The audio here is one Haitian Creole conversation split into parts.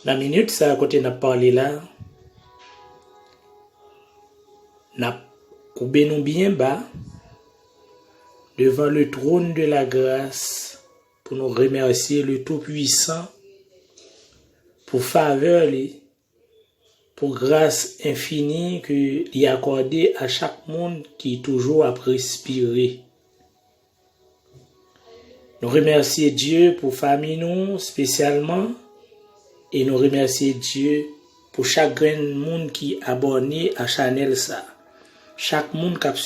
Nan minit sa kote nap pale la, nap koube nou byen ba devan le tron de la gras pou nou remersi le tou pwisan pou favè li. Pou gras enfini ke li akòde a chak moun ki toujou ap respire. Nou remèsye Dye pou fanmi nou spesyalman e nou remèsye Dye pou chak grenn moun ki abòne a chanèl sa. Chak moun kap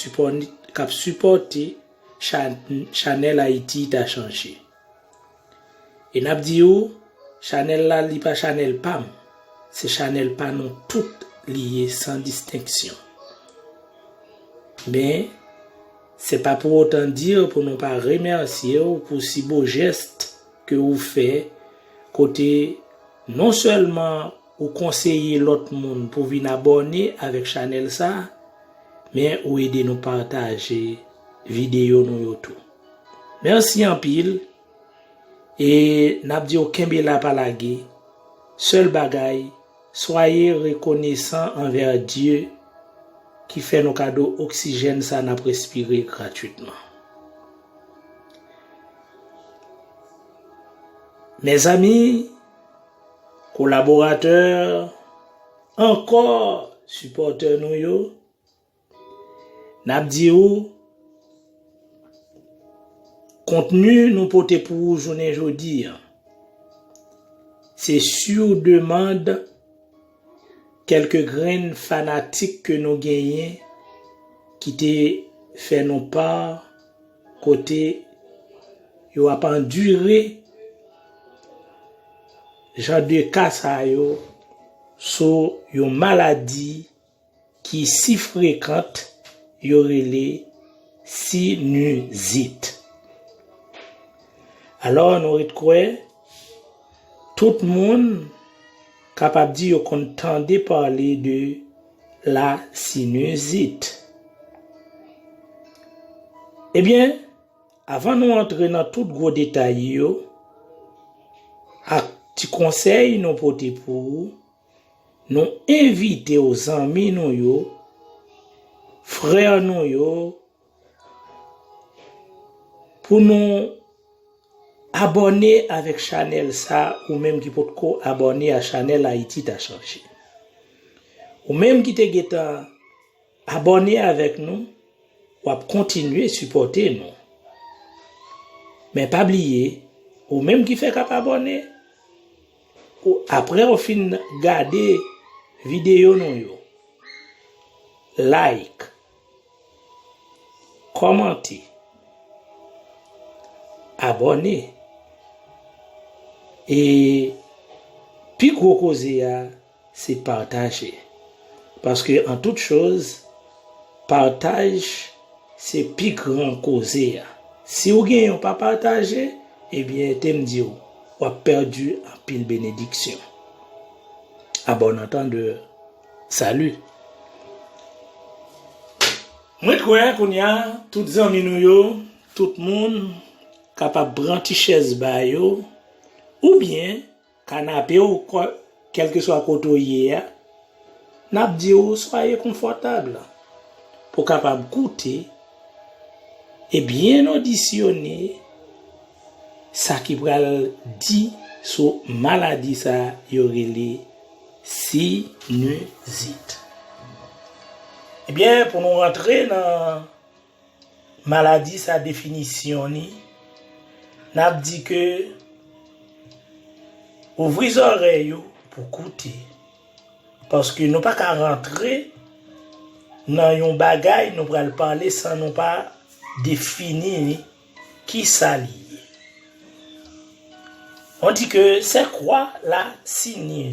sipòte chanèl Ayiti ta chanje. E nap di ou chanèl la li pa chanèl pam se chanèl pa nou tout li ye san distenksyon men se pa pou otan dir pou nou pa remèsye ou pou si bo jèst ke ou fè kote non sèlman ou konseye lòt moun pou vin abòne avèk chanèl sa men ou ede nou pataje videyo nou yo tou. Merci anpil e nap diw kenbe la pa lage sèl bagay swaye rekonesan anvè Dye ki fè nou kado oksijèn sa nap respire gratwitman mezanmi kolaboratè ankò sipòtè nou yo. N ap di ou, kontni nou pote pou ou jounen jodi an, se siw demand kèlke grenn fanatik ke nou genyen ki te fè nou par kote yo ap andire jan de ka sa yo sou yon maladi. ki si frekant yo rele sinizit. Alò nou ret kwè tout moun kapab di yo konn tande pale de la sinizit. Ebyen, avan nou antre nan tout gwo detay yo ak ti konsèy nou pote pou ou, Nou envite w zanmi nou yo, frè nou yo, pou nou abòne avèk chanèl sa ou menm ki pot ko abòne a chanèl Ayiti ta chanje. Ou menm ki te gentan. Abòne avèk nou wap kontinye sipòte nou men pa bliye ou menm ki fèk ap abòne ou aprè ou fin gade videyo nou yo like kòmante abòne e pi gwo koze a. Se pataje. Paske an tout choz, pataj se pi gran koze a. Si w genyen w pa pataje, ebyen te m di w, w ap pèdi anpil benediksyon. A bon antandè, sali. Mwen kwè kounya tout zanmi nou yo, tout moun kapab pran ti chèz ba yo oubyen. Kanape ou kèlkeswa kote ou ye a, n ap di ou swaye konfòtab pou kapab koute e byen odisyone sa ki pral di sou maladi sa yo rele sinizit. E byen pou nou rantre nan. Maladi sa definisyon li nap di ke ouvri zòrèy ou pou koute paske nou pa ka rantre nan yon bagay nou pral pale san nou pa defini li kisa li ye. On di ke sè kwa la sinye.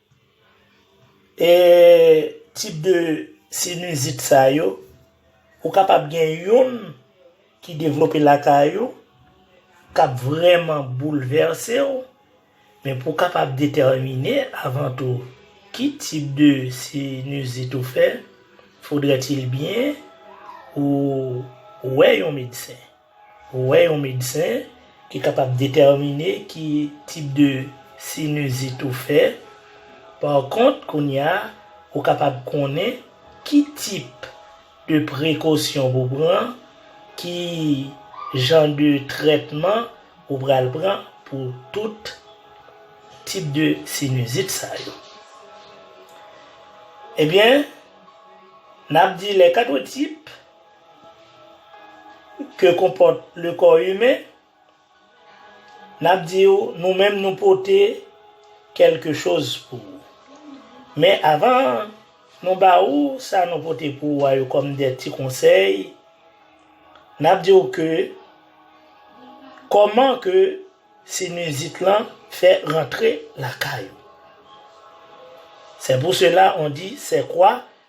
E tip de sinizit sa yo, ou kapab gen youn ki devlope lakay ou, k ap vrèman boulvèse ou, men pou w kapab detèmine avan tou ki tip de sinizit ou fè, fodrètil byen ou wè yon medsen. Ou wè yon medsen ki kapab detèmine ki tip de sinizit ou fè. Pa kont, kounye a, ou kapab konnen ki tip de prekosyon pou pran, ki jan de trètman ou pral pran pou tout tip de sinizit sa yo. Ebyen, n ap di lè 4 tip ke konpòt le kò imen, n ap di ou nou menm nou pote kèlke choz pou ou. Men avan nou ba ou sa nou pote pou ou a yo kòm de ti konsèy, n ap di ou ke kòman ke sinizit lan fè rantre lakay ou. Se pou sela on di se kwa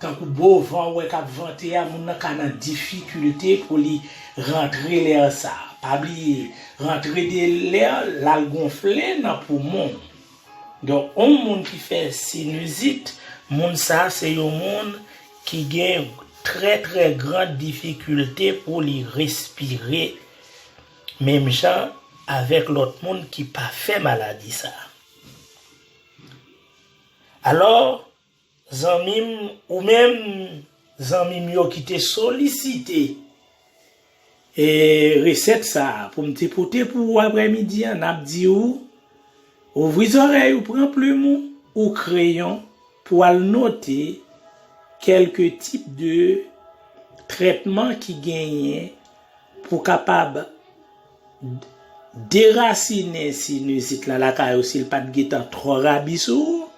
Tankou bo van ou wè k ap vante a, moun nan ka nan difikilte pou li rantre lè sa. Pa bliye, rantre de lè l al gonfle nan poumon w. Donk, yon moun ki fè sinizit, moun sa a se yon moun ki gen trè trè gran difikilte pou li respire menm jan avèk lòt moun ki pa fè maladi sa. Alò, Zanmim ou menm zanmim yo ki te solisite e resèt sa poum te pote pou ou aprè midi an nap di ou ouvri zòrèy ou pran plum ou ou kreyon pou al note kelke tip de trètman ki genyen pou kapab Derasinen sinizit la lakay ou si l pa t gentan twò rabi sou ou.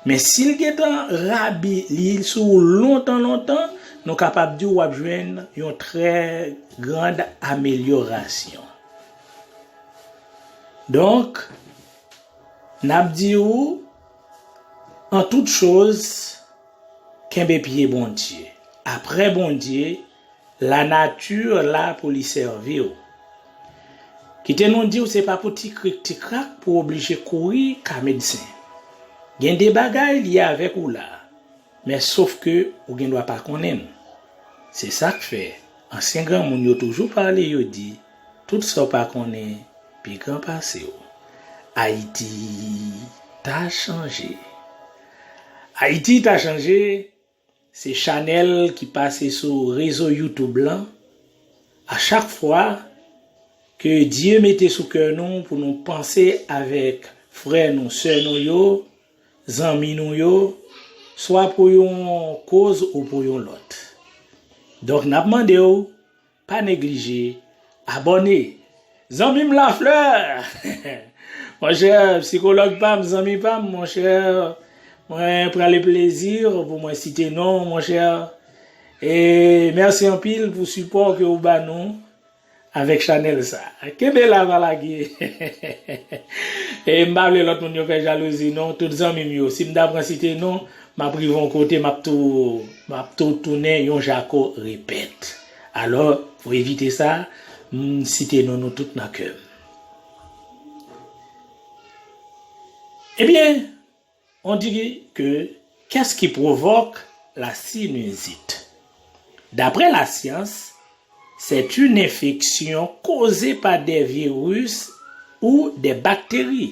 Men si l gentan rabi, li sou ou lontan lontan, nou kapab di w ap jwenn yon trè grand amelyorasyon. Donk, n ap di ou, an tout choz, kenbe pye Bondye. Aprè Bondye, La nature la pou li sèvi w. Kite nou di w se pa pou ti krik ti krak pou w oblije kouri ka medsen. Gen de bagay li avèk ou la, men sof ke ou gen dwa pa konnen l. Se sa k fè ansyen granmoun yo toujou pale yo di tout sa w pa konnen pi gran pase w. Ayiti ta chanje. Ayiti ta chanje Se chanèl ki pase sou rezo youtube lan a chak fwa ke Dye mete sou kè nou pou nou panse avèk frè nou, sè nou yo, zanmi nou yo, swa pou yon koz ou pou yon lòt. Donk nap mande w Pa neglije abòne Zanmi m Lafleur Monchè psikològ pa m zanmi pa m monchè Mwen prale plezi pou mwen site non w monchè E mèsi anpil pou sipò ke ou ba nou avèk chanèl sa Kenbe la pa lage E m pa vle lòt moun yo fè jalouzi non Tout zanmi m yo si m ta pran site non Map rive yon kote map tou map tou tounen yon jako repèt alò pou evite sa m site non nou tout nan kèm ebyen on di ke kès ki pwovòk la sinizit daprè la syans sèt yn enfeksyon koze pa dè viris ou dè bakteri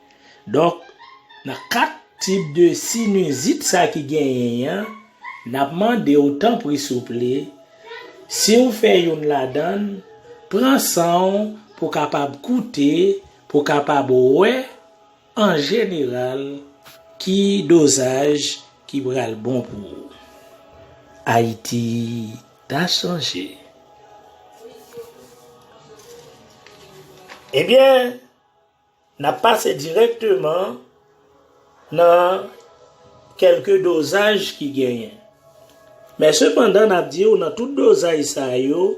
Donk, nan 4 tip de sinizit sa ki genyen an, n ap mande w tanpri souple, si w fè youn ladan, pran san w pou w kapab koute, pou w kapab wè an jeneral ki dozaj ki pral bon pou ou. Ayiti ta chanje. Ebyen! N ap pase dirèkteman nan kèlke dozaj ki genyen. Men sepandan n ap di ou nan tout dozaj sa yo,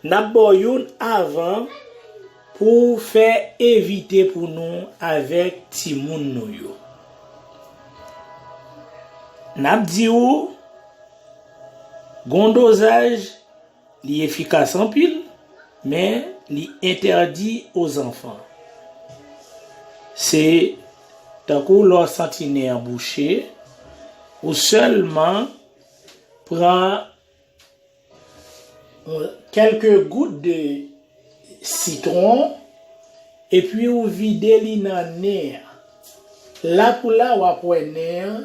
n ap ba w youn avan pou w fè evite pou nou avèk timoun nou yo. N ap di ou gon dozaj. Li efikas anpil, men li entèdi o zanfan. Se tankou lè w santi nen an bouche, ou sèlman pran kèlke gout de sitwon epi ou vide li nan nen an. La pou la w ap wè nen an.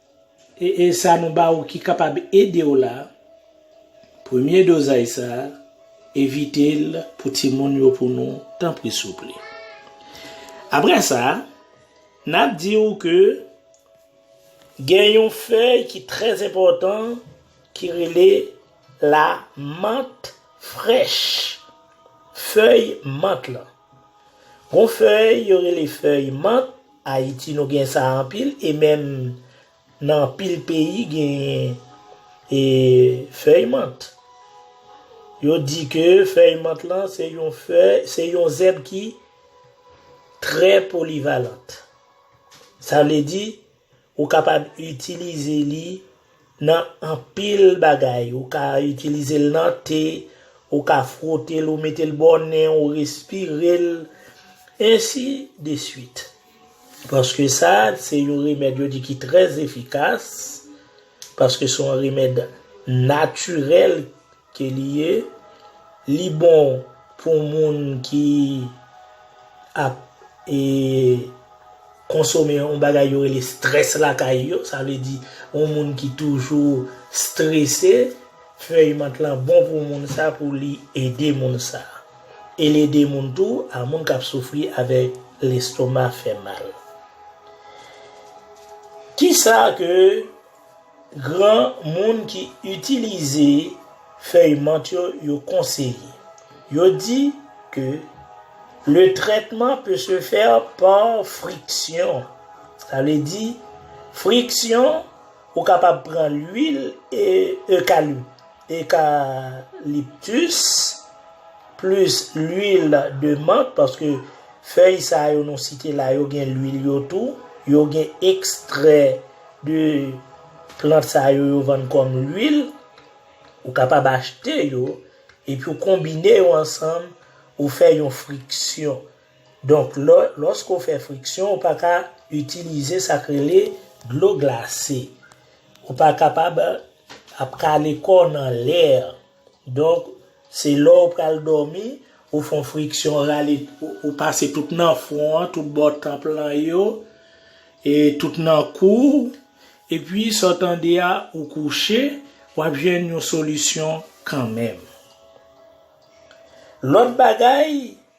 E sa nou ba ou ki kapab ede w la, premye dozaj sa evite l pou timoun yo pou nou tanpri souple. Aprè sa, n ap di ou ke gen yon fèy ki trè enpòtan ki rele la mant frèch, fèy mant lan. Gon fèy yo rele fèy mant, ayiti nou gen sa anpil e menm nan anpil peyi genyen e fèy mant. Yo di ke fèy mant lan se yon fèy, se yon zèb ki trè polivalant. Sa vle di Ou kapab itilize li nan anpil bagay. Ou ka itilize l nan te, ou ka fwote l, ou mete l bò nen w, respire l, ensi de swit. Paske sa se yon remèd yo di ki trè efikas, paske se yon remèd natirèl. Ke li ye, li bon pou moun ki ap e konsome yon bagay yo rele stress lakay yo, sa vle di yon moun ki toujou strese, fèy mant lan bon pou moun sa pou li ede moun sa. E li ede moun tou a moun kap soufri avèk lestoma fè mal. Kisa ke. Gran moun ki itilize fèy mant yo yo konseye. Yo di ke le trètman pe se fè par friksyon. Sa vle di friksyon ou kapab pran lwil eucalyptus plis lwil de mant paske fèy sa yo nou site la yo gen lwil yo tou, yo gen ekstrè De plant sa yo yo vann kòm lwil, ou kapab achte yo, epi ou konbine yo ansanm, ou fè yon friksyon. Donk lò, lòske ou fè friksyon, ou pa ka itilize sa k rele dlo glase. Ou pa kapab ap kale kò w nan lè Donk, se lè w pral dòmi, ou fè yon friksyon rale, ou pase tout nan fwon an, tout bò tanp lan yo, e tout nan kou w, epi sa w tande a, ou kouche, w ap jwenn yon solisyon kanmenm. Lòt bagay.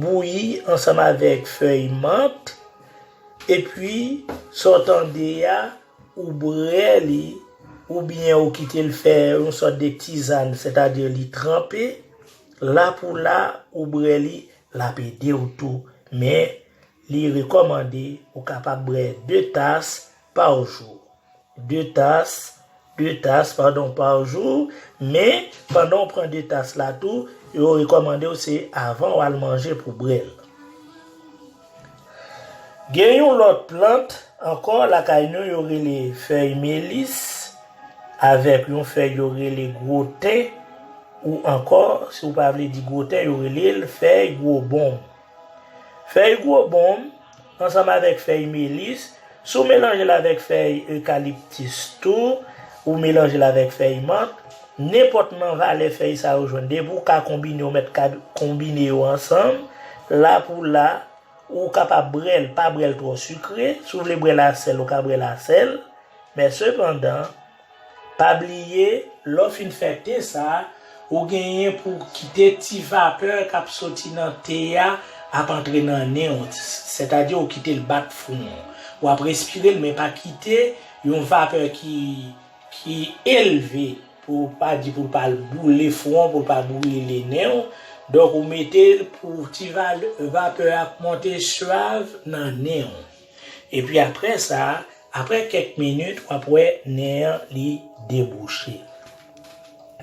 bouyi ansanm avèk fèy mant epi sa w tande a ou bwè li oubyen ou kite l fè yon sòt de tizann sètadi li tranpe la pou la ou bwè li l ap ede w tou men li rekòmande ou kapab bwè 2 tas par jour. 2 tas, 2 tas pardon par jour, men pandan ou pran 2 tas la tou, yo rekòmande ou se avan ou al manje pou brel. Gen yon lòt plant ankò lakay nou yo rele fèy melis avèk yon fèy yo rele gwo ten ou ankò si ou pa vle di gwo ten yo rele l fèy gwo bonm. Fèy gwo bonm, ansanm avèk fèy melis, si w melanje l avèk fèy ekaliptis tou, ou melanje l avèk fèy mant, nenpòt nan valè fèy sa yo jwenn, depi w ka konbine yo mèt ka konbine yo ansanm, la pou la, ou kapab brè l, pa brè l twò sikre, si w vle brè l a sèl ou ka brè l a sèl, men sepandan. Pa bliye, lè w fin fè te sa, ou genyen pou w kite ti vapè k ap soti nan te a ap antre nan nen w, sètadi ou kite l bat fron w. W ap respire l men pa kite yon vapè ki elve pou w pa di pou l pa al boule fron w, pou l pa brile nen w. Donk ou mete l pou ti vapè a ap monte suave nan nen w. Epi aprè sa, aprè kèk minit w ap wè nè an li debouche.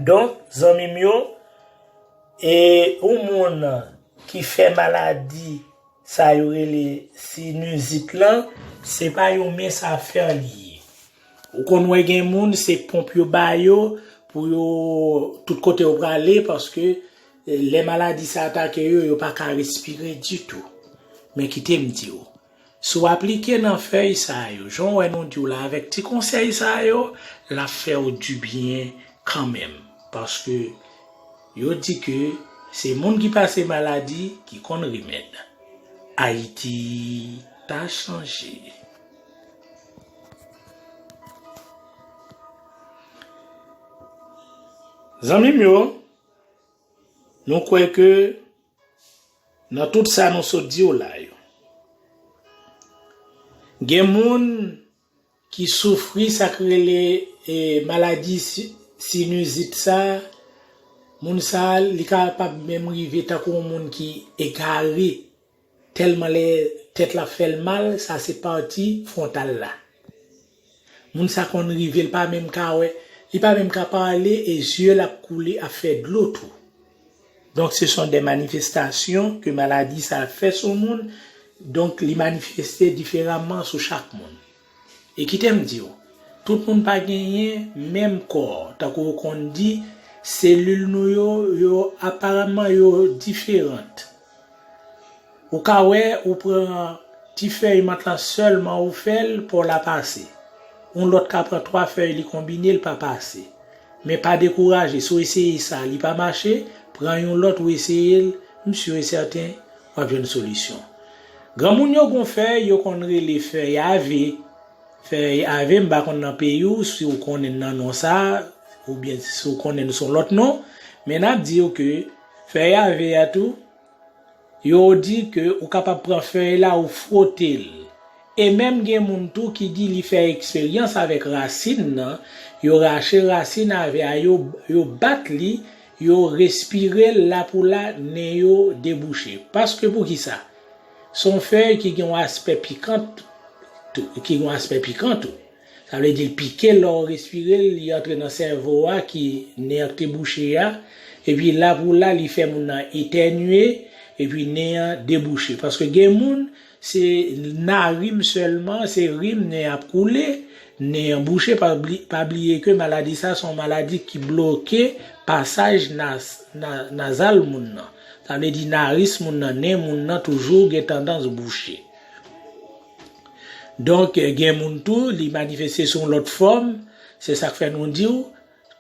Donk zanmi m yo, e yon moun ki fè maladi sa yo rele sinizit lan, se pa yon mens afè li ye. Ou konn wè gen moun se ponp yo ba yo pou yo tout kote yo prale paske. Lè maladi sa atake yo, yo pa ka respire ditou. Men kite m di w, si w aplike nan fèy sa yo, jan w wè nou di w la avèk ti konsèy sa yo, l ap fè w dibyen kanmenm. Paske, yo di ke se moun ki pase maladi ki konn remèd. Ayiti ta chanje. Zanmi m yo! Nou kwè ke nan tout sa nou sot di w la yo, gen moun ki soufri sa k rele maladi sinizit sa, moun sa li kapab menm rive tankou yon moun ki egare. Tèlman lè tèt la fèl mal sa se pati frontal la moun sa konn rive li pa menm ka wè li pa menm ka pale e yeux l ap koule ap fè dlo tou donk se son dè manifestasyon ke maladi sa fè sou moun donk li manifeste diferaman sou chak moun. E kite m di w, tout moun pa genyen menm kò, tankou ou konn di, selil nou yo, yo aparamman yo diferant. Ou ka wè ou pran ti fèy mant lan sèlman ou fè l po w la pase. Yon lòt ka pran 3 fèy li konbine l pa pase. Men pa dekouraje si w eseye sa li pa mache, pran yon lòt ou eseye l, m sur et certain Map jwenn solisyon. Granmoun yo gon fèy yo konn rele fèy ave, fèy ave m pa konn nan peyi w si w konnen nan non sa oubyen si w konnen l son lòt non men nap di w ke fèy ave a tou yo di ke ou kapab pran fèy la ou fwote l e menm gen moun tou ki di li fè eksperyans avèk rasin nan yo rache rasin ave a yo bat li Yo respire l la pou la, nen yo debouche. Paske pou ki sa? Se yon fèy ki gen yon aspè pikan tou. Ki gen yon aspè pikan tou. Sa vle di l pike lè w respire l, li antre nan sèvo a ki nen an ki te bouche a. Epi la pou la li fè moun nan etènye, epi nen an debouche. Paske gen moun, Se na rim selman se rim nen ap koule nen an bouche pa bliye ke maladi sa son maladi ki bloke pasaj nazal moun nan sa vle di naris moun nan nen moun nan toujou gen tandans bouche donk gen moun tou li manifeste sou yon lot fom se sak fè nou diw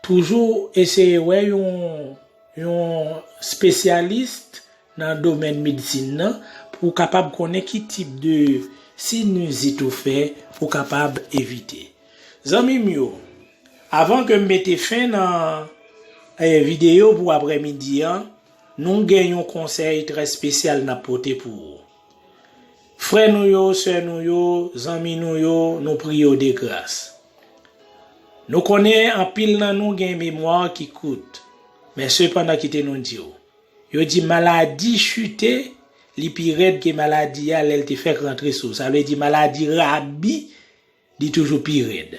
toujou eseye wè yon yon spesyalist nan domèn medsin nan pou ou kapab konnen ki tip de sinizit ou fè ou kapab evite. Zanmi m yo, avan ke m mete fen nan videyo pou aprè midi an, nou gen yon konsèy trè spesyal n ap pote pou ou. Frè nou yo, sè nou yo, zanmi nou yo, nou priye yo de gras. Nou konnen anpil nan nou gen memwa ki kout, men sepandan kite nou di w. Yo di maladi chute li pi rèd ke maladi a lèl te fèk rantre sou. Sa vle di maladi rabi li toujou pi rèd.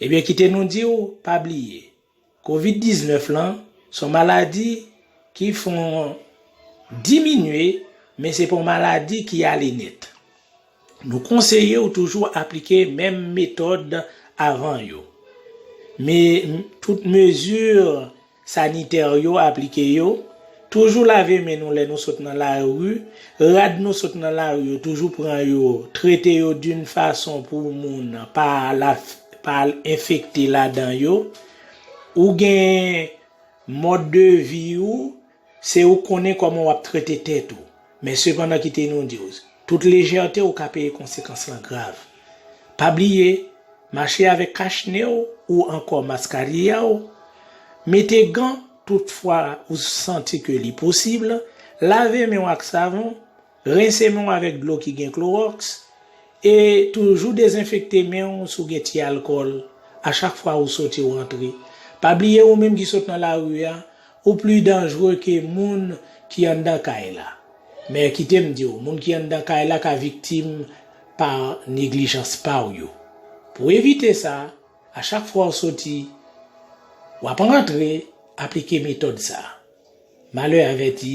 Ebyen kite nou diw pa bliye covid 19 lan son maladi ki fon diminye men se pa yon maladi ki ale nèt. Nou konseye w toujou aplike menm metòd avan yo. Me tout mezi sanitè yo aplike yo, toujou lave men nou lè nou sot nan lari, rad nou sot nan lari yo toujou pran yo trete yo d'un fason pou moun pa al enfekte ladan yo. Ou gen mòd de vi ou Se ou k konnen kòman w ap trete tèt ou. Men sepandan kite nou di w, tout lejète ou ka peye konsekans lan grav. Pa bliye, mache avèk kach ne w ou ankò maskarilla w, mete gan tout fwa ou santi ke li posib, lave men w ak savon, Rense men w avèk dlo ki gen klowòks, e toujou dezenfekte men w si w gen ti alkòl a chak fwa ou soti ou antre. Pa bliye ou menm ki sot nan lari a, ou pli danjre ke moun ki anndan kay la. Men kite m di w, moun ki anndan kay la ka viktim pa neglijans pa w yo. Pou w evite sa, a chak fwa w soti, w ap rantre, aplike metòd sa. Malè avèti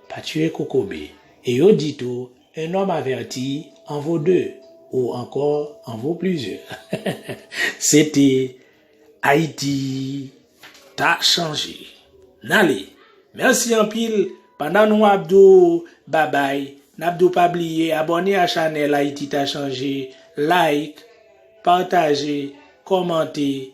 pa tiye kokobe. E yo di tou, un homme averti en vaut deux ou ankò en vaut plusieurs. Se te Ayiti ta chanje. N ale. Mèsi anpil. Pandan nou ap di w babay, n ap di w pa bliye abòne a chanèl Ayiti ta chanje, like, pataje, kòmante.